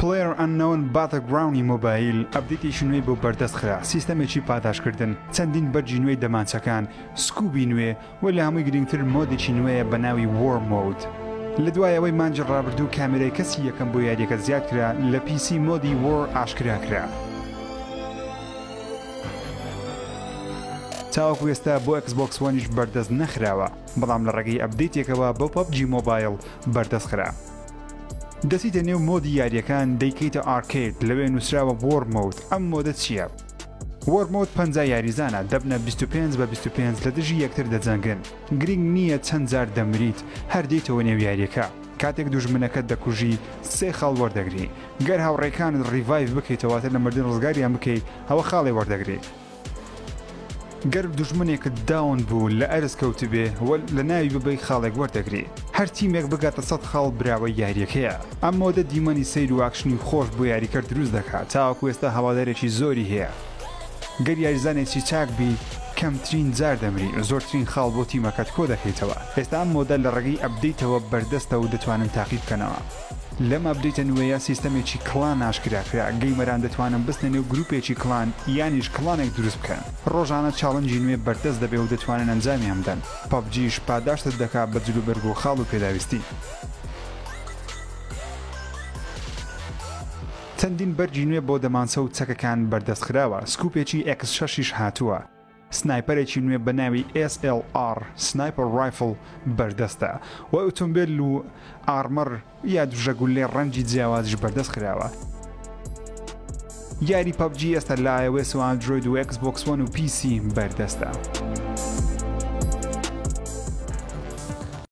PlayerUnknown Battleground ی مۆبایل ئەپدەیتێکی نوێی بۆ بەردەست خرا، سیستەمێکی پاداشتکردن، چەندین بەرگی نوێی دەمانچەکان، سکوبی نوێ، و لە هەمووی گرنگتر مۆدێکی نوێیە بە ناوی War Mode. لە دوای ئەوەی مانگی ڕابردوو کامێرای کەسی یەکەم بۆ یارییەکە زیاد کرا، لە پی سی مۆدی War ئاشکرا کرا. تاوەکو ئێستا بۆ Xbox One یش بەردەست نەخراوە. بەڵام لە ڕێگەی ئەپدەیتێکەوە بۆ پەبجی مۆبایڵ بەردەست خرا. دەچیتە نێو مۆدی یاریەکان دەیکەیتە ئارکەید لەوێ نوسراوە وۆر مۆد ئەم مۆدە چیە؟ وۆر مۆد پەنجا یاریزانە دەبنە بیست و پێنج بە بیست و پێنج لە دژی یەکتر دەجەنگن گرینگ نیە چەند جار دەمریت هەر دێیتەوە نێو یاریەکە کاتێک دوژمنەکەت دەکوژی سێ خاڵ وەردەگری گەر هاوڕێکانت ڕیڤایڤ بکەیتەوە واتە لە مردن ڕزگاریان بکەی ئەوە خاڵێ وەردەگری. گەر دوژمنێکت داون بوو لە ئەرز کەوتبێ و لە ناوی ببەی خاڵێک وەردەگری هەر تیمێک بگاتە سەد خاڵ براوەی یاریەکەیە ئەم مۆدە دیمەنی سەیر و ئاکشنی خۆش بۆ یاریکەر دروست دەکات تاوەکو ئێستا هەوادارێکی زۆری هەیە گەر یاریزانێکی چاک بی کەمترین جار دەمری و زۆرترین خاڵ بۆ تیمەکەت کۆ دەکەیتەوە ئێستا ئەم مۆدە لە ڕێگەی ئەپدەیتەوە بەردەستە و دەتوانن تاقی بکەنەوە. لەم ئەپدەیتە نوێیە سیستەمێکی کڵان ئاشکرا کرا، گەیمەران دەتوانن بچنە نێو گروپێکی کڵان یانیش کڵانێک دروست بکەن، ڕۆژانە چاڵنجی نوێ بەردەست دەبێ و دەتوانن ئەنجامیان بدەن، پەبجیش پاداشتت دەکا بە جلوبەرگ و خاڵ و پێداویستی. چەندین بەرگی نوێ بۆ دەمانچە و چەکەکان بەردەست خراوە، سکوپێکی ئێکس شەش یش هاتووە، سنایپەرێکی نوێ بە ناوی SLR Sniper Rifle بەردەستە و ئۆتۆمبێل و ئارمەر یا دژە گوللەی ڕەنگی جیاوازیش بەردەست خراوە. یاری پەبجی ئێستا لە iOS و Android و Xbox One و PC بەردەستە.